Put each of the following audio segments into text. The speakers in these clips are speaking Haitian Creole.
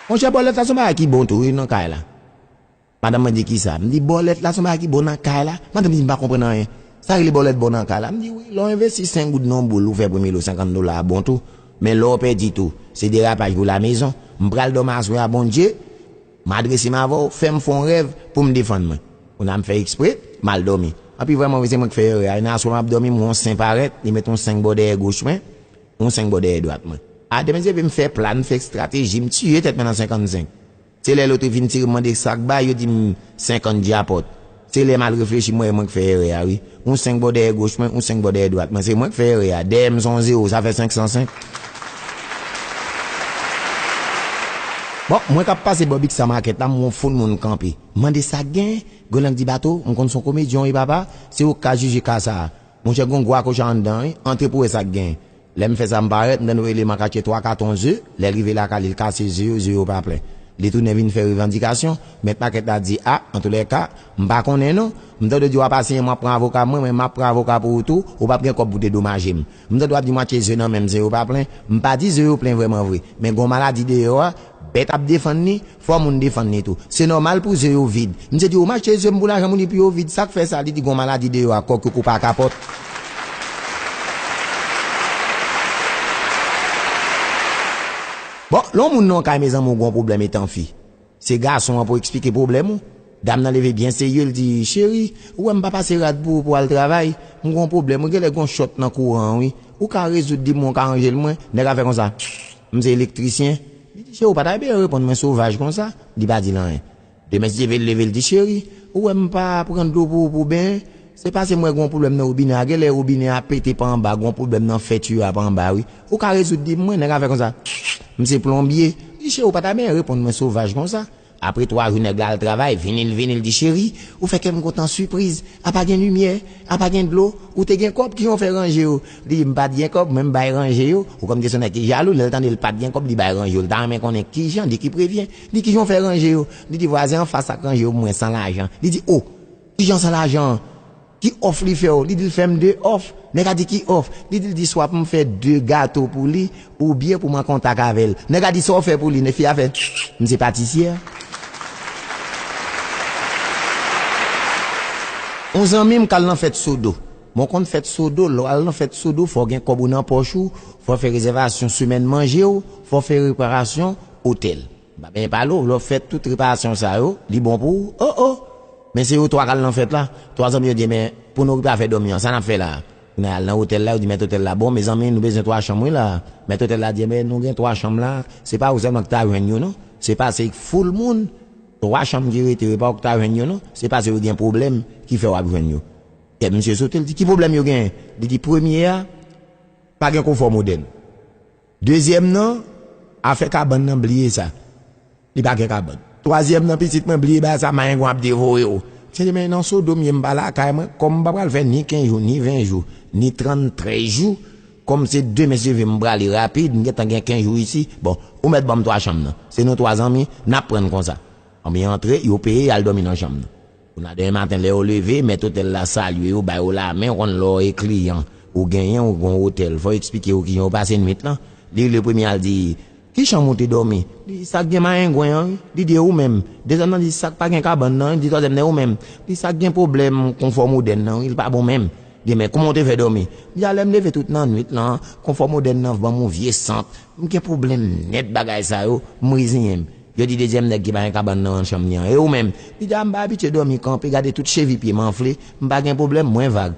Monchè Paulette sa son bagay ki bon tou wi nan kay la. Madanm mwen di, Kisa? M di, Bòlèt la se yon bagay ki bon nan kay la. Madanm di, M pa konprann anyen. Sa rele bòlèt bon nan kay la? M di, Wi, lè w envesti 5 goud nan yon boul ou fè premye lo 50 dola a bon tou. Men lè w pèdi tou, se derapaj pou lamezon. M pral dòmi aswè a Bondye, m adrese m avè w, fè m fè yon rèv pou m defann mwen. Kounye a m fè ekspre, m al dòmi. Anpi vrèmanvre se mwen ki fè erè a. Yon aswè m ap dòmi m wè yon sen parèt, li met yon 5 bò dèyè goch mwen, yon 5 bò dèyè dwat mwen. A demen zeve m fè plan, m fè estrateji, m tiye tèt mwen nan 55. Se lè lote vin tire m mande sak bay yo di m 50 djapòt. Se lè mal reflechi m wè e mwen k fè èrè a wi. Yon 5 bò dèyè goch mwen, yon 5 bò dèyè dwat mwen. Se mwen k fè èrè a. Dèyè m son w zewo, sa fè 505. Bon, mwen k ap pase bò biksa makèt la m wè yon foul moun kanpe. M mande sak gen? Golang di Bato, m konn son komedyen w wi papa, se ou k ka jije ka sa a. Monchè gon gwo akocha anndan wi, antre pou wè sak gen. Lè m fè sa m parèt, m tann ou rele makak yo twa katon ze, lè l rive lakay li l kase ze yo, ze yo pa plen. Li tounen vin fè revandikasyon, mèt pakèt la di a, antoulèka, m pa konnen non, m tande w di w ap asiyen mwen ap pran avoka mwen, men m ap pran avoka pou ou tou, ou p ap gen kòb pou dedomaje m. M tande w ap di mwatye ze nan men m, ze yo pa plen, m pa di ze yo plen vrèman vre, men gen yon maladi deyò a, Bèt ap defann li, fò moun defann li tou. Se nòmal pou ze yo vid. Misye di ou mache ze m pou lajan moun epi yo vid, sa k fè sa? Li di gon maladi deyò a kòk yo kou pa kapòt. Bon, lè w moun nan yon kay mezanmi ou gon pwoblèm etan fi. Se gason an pou w eksplike pwoblèm ou. Dam nan leve byen serye l di, cheri, ou wè m pa pase rad pou ou pou w al travay? M gon pwoblèm wi, genlè gon chòt nan kouran an wi. Ou ka rezoud li pou mwen, ou ka ranje l mwen? Nèg la fè konsa. M se elektrisyen. Li di, Cheri, ou pa ta byen reponn mwen sovaj konsa. Li pa di l anyen. Demen Stiv vin leve, li di, Cheri, ou wè m pa pran dlo pou ou pou w benyen? Se pase m wè gen yon pwoblèm nan wobinè a. Genlè wobinè a pete pa anba, gen yon pwoblèm nan fè tiyo a pa anba wi. Ou ka rezoud li pou mwen? Nèg a fè konsa, M se plonbye. Li di, Cheri, ou pa ta byen reponn mwen sovaj konsa. Apre 3 jou nèg la al travay vini l vini l di cheri ou fè kè m kontan sipriz a pa gen limyè a pa gen dlo ou te gen kòb kijan w fè ranje yo li di m pat gen kòb mwen m bay ranje yo ou konn gen son nèg ki jalou lè l tande l pat gen kòb li bay ranje yo l ta renmen konnen kijan de ki prevyen li kijan w fè ranje yo li di vwazen anfas la k ranje yo pou mwen san lajan li di o kijan san lajan. Ki off li fèw li dil fèm 2 off nèg a di ki off li dil di swa poum fè 2 gato pou li ou byen poum an kontak avèl nèg a di saw fè pou li nèg fi a fè m se patisyè on zanmim kal nan fèt sodo bon konn fèt sodo lèw al nan fèt sodo fòw gen kòb ou nan pòch ou fòw fè rezèvasyon semèn manjew fòw fè reparasyon otèl. Ba benyen pa lo, lè w fè tout reparasyon sa yo, li bon pou ou, o o! Men se yo twa k al nan fèt la. Twa zanmi yo di, Enben, pou nou okipe afè dòmi an, sa n ap fè la a? Nou al nan otèl la, yo di mèt otèl la, Bon, mezanmi, nou bezwen twa chanm wi la a. Mèt otèl la di, Enben, nou gen twa chanm la a, se pa ou sèlman ki ta jwenn yo non, se pase k foul moun, twa chanm ki rete yo, e pa ou ki ta jwenn yo non, se pase yo gen pwoblèm ki fè w ap jwenn yo. Kè misye sote, l di, Ki pwoblèm yo genyen? Li di, Premye a, pa gen konfò modèn. Dezyèm nan, afè kabann nan bliye sa. Li pa gen kabann. Twazyèm nan, pitit mwen bliye bagay sa mayengon ap devore w. Msye men nan sodo m ye m pa lakay mwen kòm m pa pral fè ni 15 jou ni 20 jou ni 33 jou kòm se de mesye vim m prale rapid m gentan gen 15 jou isi bon ou mèt banm 3 chanm nan se nou 3 zanmi nap prann konsa anbyen antre yo peye yal dòmi nan chanm nan. Jounal demen maten lè yo leve, mèt otèl la salye yo, ba yo lamen, ou konn lè w e kliyan, ou genyen, ou gen yon otèl, fò w eksplike yo kijan w pase nuit lan. Li le premye al di, Ki chanm ou te dòmi? Li di, Sa k gen mayengwen an wi. Li di, E ou menm? Dezyèm nan di, Sa k pa gen kabann nan wi. Li di twazyèm nan, E ou menm? Li di, Sa k gen pwoblèm konfò modèn nan wi, li pa bon menm. Li di, Men, kouman w te fè dòmi? Li di, A lè m leve tout nan nuit lan, konfò modèn nan ban m yon vye sant, m gen pwoblèm nèt bagay sa yo, m reziyen m. Yo di dezyèm nèg ki pa gen kabann nan an chanm li an, E ou menm? Li di, A m pa abitye dòmi kanpe, gade tout chevi pye m anfle, m pa gen pwoblèm, mwen vag.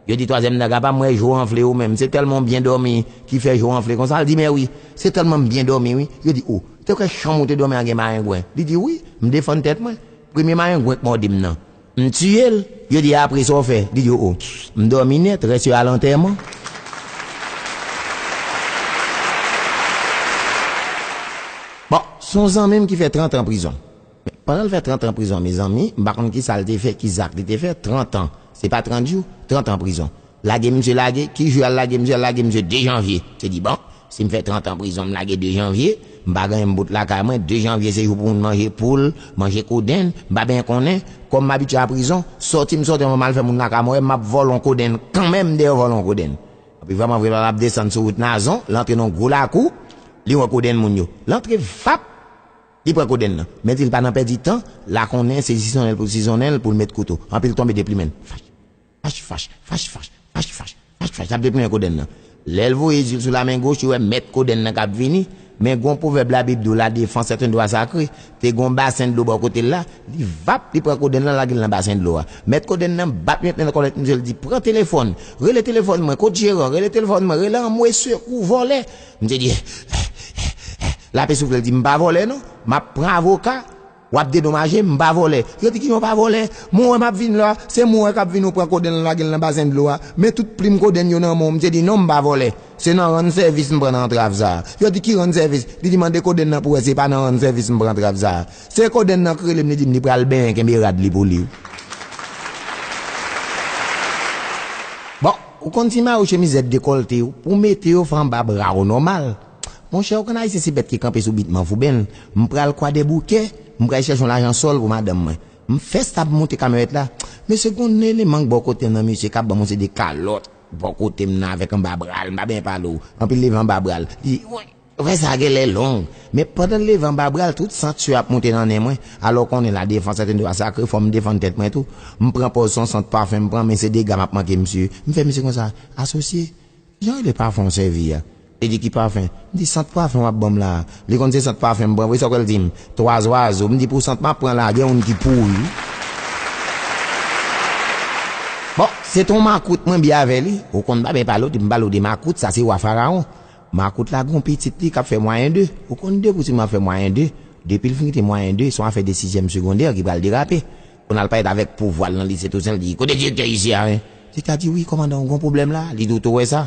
Yo di twazyèm nèg la, Pa m wè je w anfle ou menm, se tèlman w byen dòmi ki fè je w anfle konsa? Li di, Mèwi, se tèlman m byen dòmi wi. Yo di, O, te kwè chanm ou te dòmi an gen mayengwen? Li di, Wi, m defann tèt mwen. Premye mayengwen k mòdi m nan, M tiye l, yo di apre sa w fè? Li di oo, m dòmi nèt, rès yo al antèman. Bon, s on zanmi m ki fè trantan prizon. Men, pandan l fè trantan prizon mezanmi, m pa konn ki sa l te fè, ki zak li te fè, trantan, se pa trant jou, trantan prizon. Lage misye lage, ki jou yal lage misye, yal lage misye 2 janvye, se di bon, sim fè 30 an prizon m lage 2 janvye, m pa genyen m bout lakay mwen, 2 janvye se jou pou moun manje poul, manje kodenn, m pa benyen konnen, kòm m abitye a prizon, sòti m sòti an mwen mal fè moun lakay mwen wè map vòlò yon kodenn kanmenm dèyè vòlò yon kodenn. Anpi vrèman vre papa ap desann sou wout Nazon, l antre nan yon gwo lakou, li wè kodenn moun yo, l antre vap, li pran kodenn nan, men di l pa nan pèdi tan, la konnen se zizonnèl pou l zizonnèl pou l met kouto, anpi l tonbe deplimen l, fach. Fach fach, fach fach, fach fach, fach fach, sa p de premye kodenn nan. Lè l voye je l sou lamen goch, li wè mèt kodenn nan k ap vini. Men gon pwovèb labib di w, La defans est un droit sacré. Te gon basen dlo bò kote l la, li vap, li pran kodenn lan lage l nan basen dlo a. Mèt kodenn nan bat yon tnèl kòlèt misye, l di, Pran telefòn, rele telefòn mwen, kot jeran, rele telefòn mwen, rele anmwe sekou, vòlè. Misye di, È è è è è, lape soufle l di, M pa vòlè non, m ap pran avoka. Wap dedomaje m, m pa vòlè. Yo di ki yon pa vòlè? Mwen wè map vin la, se mwen wè kap vin ou pran kodenn lan lage l nan bazen dlo a. Men tout plim kodenn yo nan men w, msye di non m pa vòlè. Se nan rann sèvis m pran antrav sa a. Yo di ki rann sèvis? Li di mande kodenn lan pou wè se pa nan rann sèvis m pran antrav sa a. Se kodenn lan k rele m li di m li pral benyen kenbe rad li pou li. Bon, ou konn ti mare w chemiz zèb dekòlte w, pou w mete yo fè anba bra w nòmal. Monchè ou konn ayisyen se bèt ki kanpe sou bit manvou ben m pral kwadèboukè m pral chèch yon lajan sòl pou madanm mwen m fès ap moute kamyonèt la mesye gon eleman k bò kotem nan mesye kap banm yon seri de kalòt bò kotem nan avèk anba bral m pa byen pale w anpi l leve anba bral li woy afè sa genlè long men pandan l leve anba bral tout san tchyo ap moute nan nen mwen alò w konnen la defans est un droit sacré fòm defann tèt mwen tou m pran pòz son sant pafen m pran men se dega map manke misye m fè misye konsa asosye Kijan rele pafin ou sèvi a? Li di ki pafin? M di sant pafin wap banm la a. Li konn se sant pafin m pran vre sa kwè l di m? Twa zwazo. M di pou sant map pran la a gen youn ki pouri wi. Bon, se te yon makout mwen bi avè li. Ou konn m pa byen pale w di m pale w de makout sa se wa farawon. Makout la gen yon pitit li kap fè mwayen 2. Ou konn de pou ti moun ap fè mwayen 2. Depi l fin kite mwayen 2 se yon afè de sizyèm segondè ki pral derape. Pou nal parèt avèk pouvwal nan lise Toussaint li di, kote direktè isi a hein? Direktè a di wi kòmandan ou gon pwoblèm la, li di ou to wè sa?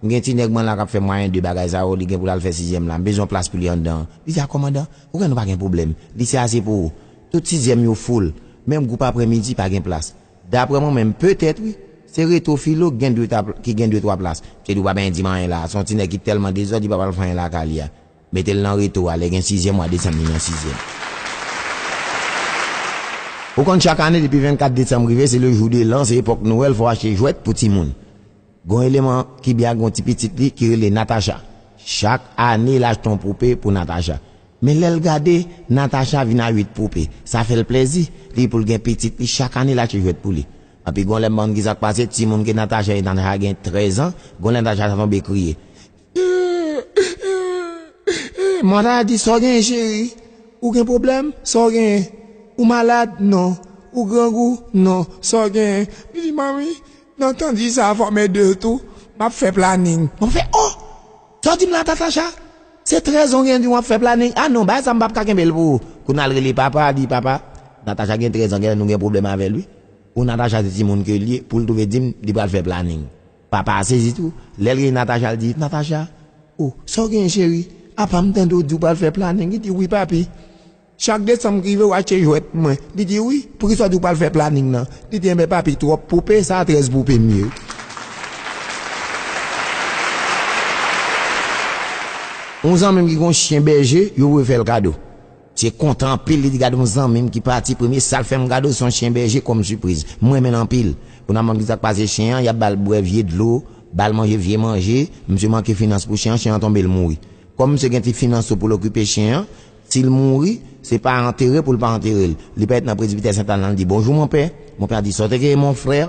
M gen ti nèg mwen la kap fè mwayen 2 bagay sa yo, li gen pou lal fè sizyèm la, m bezwen yon plas pou li anndan an. Li di a kòmandan, ou konnen nou pa gen pwoblèm, lise a se pou ou. Tout sizyèm yo foul, menm gwoup aprè midi pa gen plas. Daprè mwen menm, petèt wi, se reto filo ki gen 2 ta, ki gen 2 twa plas. M te di ou pap endim anyen la, se yon ti nèg ki tèlman dezòd li pap al fè anyen lakay li a. Mete l nan reto a, lè gen sizyèm wa desanm li nan sizyèm. Ou konn chak ane depi 24 desanm rive se le jou de l'an se epòk Noël fò achte jwèt pou timoun. Gon eleman ki byen ak gon ti pitit li ki rele Natacha. Chak ane l achte yon poupe pou Natacha. Men lè l gade Natacha vin a 8 poupe. Sa fè l plèzi, li pou l gen pitit li chak ane l achte jwèt pou li. Anpi gon lè m bann ki sa k pase timoun ke Natacha e Natacha gen 13 ans, gon lè Natacha ta tonbe kriye. Martha di, Sa w genyen cheri? Ou gen pwoblèm? Sa w genyen? Ou malad? Non. Ou grangou? Non. Sa w genyen? Li di, Manmi, nan tan di sa a fò mè de tou, m ap fè planin. Martha fè, O! Sa w di m la Tatasha? Se 13 an w genyen di m w ap fè planin? A non, bagay sa a m pap ka kenbe l pou ou. Kounye a l rele papa, li di, Papa, Natasha gen 13 an genlè nou gen pwoblèm avè l wi. Pou Natasha se timoun ke l ye, pou l twouve di m li pral fè planin. Papa a sezi tou, lèl gen Natacha l di, Natacha, oh sa w genyen cheri, apa m tande w di w pral fè planin, li di wi papi, chak desanm k rive w achte jwèt pou mwen, li di wi, poukisa w di w pral fè planin nan, li di enben papi twòp poupe sa 13 poupe m ye. Yon zanmi m ki gen yon chyen bèje, yo vle fè l kado. Msye kontan anpil li t gad yon zanmim ki pati premye sal fèm gadl son chyen bèje kòm sipriz m renmenl anpil pou nan mande sak pase chyen an yap bal bwè vye dlo bal manje vye manje msye manke finans pou chyen an chyen an tonbe l mouri kòm msye gen ti finans tou poul okipe chyen an sil mouri se pa antere poul pa anterel li pa ret nan presbitè sentana li di bonjou monpè monpè a di sòteke mon frère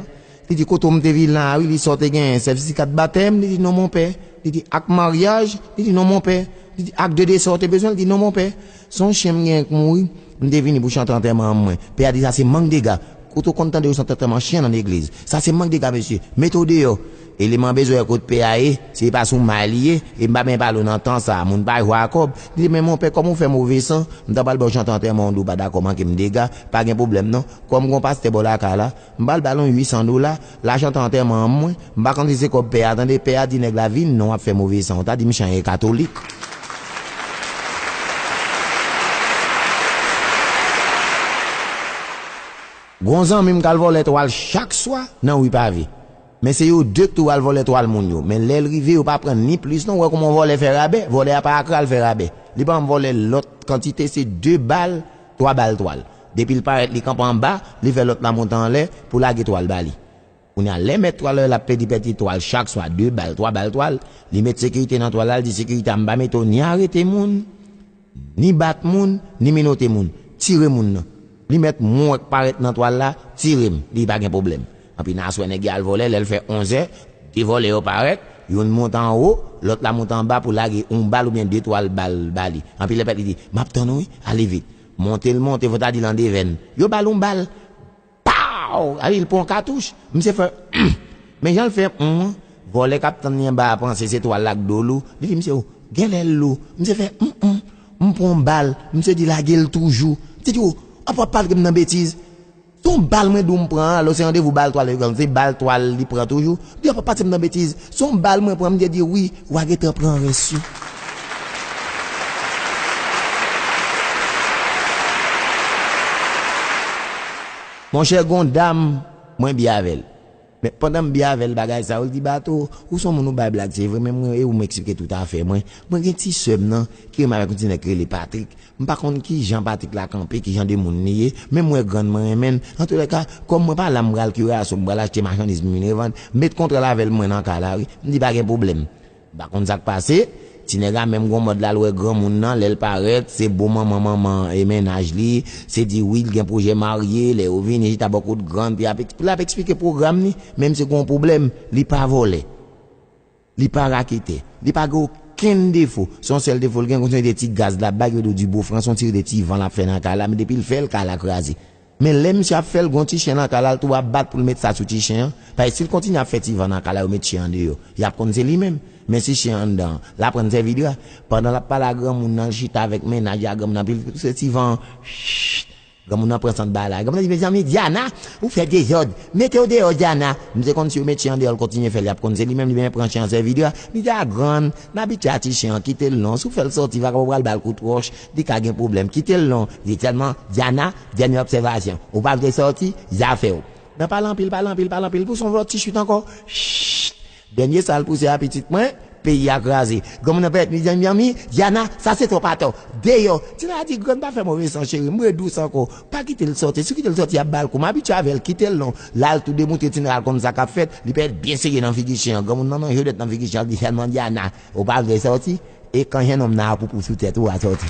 Li di kote w m te vin la a wi, li di sa w te genyen, sètifika de batèm, li di non mon pè, li di ak maryaj, li di non mon pè, li di ak de dese w te bezwen, li di non mon pè, se yon chen m genyen k mouri, m te vini pou chante antèman an mwen, pè a di sa se mank dega, kote w konn tande yo chante antèman chen nan legliz, sa se mank dega mesye, mete w deyò, eleman bezwen wè kot pè a ye, si e pa sou may li ye, e m pa benyen pale w nan tan sa a, moun pa jwe a kòb, li di men mon pè kòm ou fè move san, m ta pral ba w chante antèman w di w pa dakò manke m dega, pa gen pwoblèm non, kòm gen yon pastè bò lakay la, M pral ba l yon 800 dola, lajan tan antèman an mwen, m pa konn si se kòb pè a tande, pè a di nèg la vin non w ap fè move san, w ta di m chan e katolik. Gon zanmi m k al vòlè twal chak swa nan ri pave. Men se yo 2 k tou al vòlè twal moun yo, men lè l rive yo pa pran ni plis non, w wè kouman yon vòlè fè rabè, vòlè a pa ak ral fè rabè, li pa janm vòlè lòt kantite se 2 bal, 3 bal twal. Depi l parèt li kanpe anba, li fè lòt la monte anlè pou lage twal ba li. Kounye a, lè mèt twal la wè l ap pèdi pèdi twal chak swa 2 bal, 3 bal twal, li met sekirite nan twal la, l di sekirite a m pa mete w ni arete moun, ni bat moun, ni menote moun. Tire moun nan. Li mèt mwen wè k parèt nan twal la, tire m, li pa gen pwoblèm. Anpi na aswè nèg ya al vòlè lèl fè 11 è 2 vòlè yo parèt youn moute anwo lòt la moute anba pou lage yon bal oubyen 2 twal bal ba li anpi lè pèt li di map tann ou wi ale vit monte l monte fò ta di l an devèn yo bal yon bal paw anpi l pran yon katouch misye fè humm men jan l fè humm an vòlè kap tann li anba a panse se twal la k do lou li di misye ou genlè l lou misye fè humm humm m pran yon bal misye di lage l toujou misye di ou ap wap pale m nan betiz. Ton bal mwen dou m pran an alò se randevou bal twal yo genlh se bal twal li pran toujou di yo pa pase m nan betiz son bal mwen pran m gen di wi wa gentan pran rès yo. Monchè gon dam mwen bye avèl. Men pandan m byen avè l bagay sa yo, l di Bato, ou s on moun ou bay blag se vre men mwen e ou m eksplike tout afè mwen. Mwen gen ti sè m nan ki renmen avèk yon ti nèg ki rele Patrik. M pa konn ki jan Patrik la kanpe, ki jan de moun li ye, men m wè grann mwen renmen l. Antoulèka, kòm mwen pa la m pral kiraso, m pral achte machandiz pou m vin revann. M met kontra l avè l mwen nan ka la wi. M di pa gen pwoblèm. M pa konn sak pase, ti nèg la menm gon mòd lal wè granmoun nan lèl parèt se bo manman manman e mennaj li, se di wi l gen pwojè marye, lè yo vini chita bò kot grann pi ap lap eksplike pwogram li, menm si gon pwoblèm li pa vòlè, li pa raketè, li pa gen okenn defo, son sèl defo l gen se ti gaz lap bay ki rele w di bo franse yon ti rele ti van lap fè nan kay la men depi l fèl kay la kraze, Men lè misye ap fèl gon ti chen nan kay la l tou ap bat poul met sa sou ti chen an, paske sil kontinye ap fè ti van nan kay la yo met chen an deyò yap konn se li menm, men si chen an anndan an l aprann sèvi dra, pandan lap pale a granmoun nan l chita avèk mennaj li a granmoun nan ap pil pouse ti van an Shhhh granmoun nan pran sant bagay la granmoun nan di mezanmi Diana ou fè dezòd metew deyò Diana m se konn si yo met chen an deyò l kontinye fèl yap konn se li menm li menm pran chen an sèvi dra li di a grann m abitye a ti chen an kitel non si w fèl sòti vagabon pral bal kout wòch Li ka gen pwoblèm kitel non li sèlman Diana dènye obsèvasyon ou pa vle sòti zafèw nan pale anpil pale anpil pale anpil pouse yon lòt ti chute ankò chut dènye sal pouse a pitit mwen peyi a kraze granmoun nan pèt mizè mezanmi Diana sa se twòp atò deyò ti nana di grann pa fè move san cherim re dous ankò pa kitel sòti si w kitel sòti yap bal kou m abitye avèl kitel non lal tou demoutre ti nana l konn sa kap fèt li pèt byen serye nan figi chen an granmoun nan manje w dèt nan figi chen an li sèlman Diana Ou pa vle sòti? E kan jennonm nan ap ou pou sou tèt ou a sòti.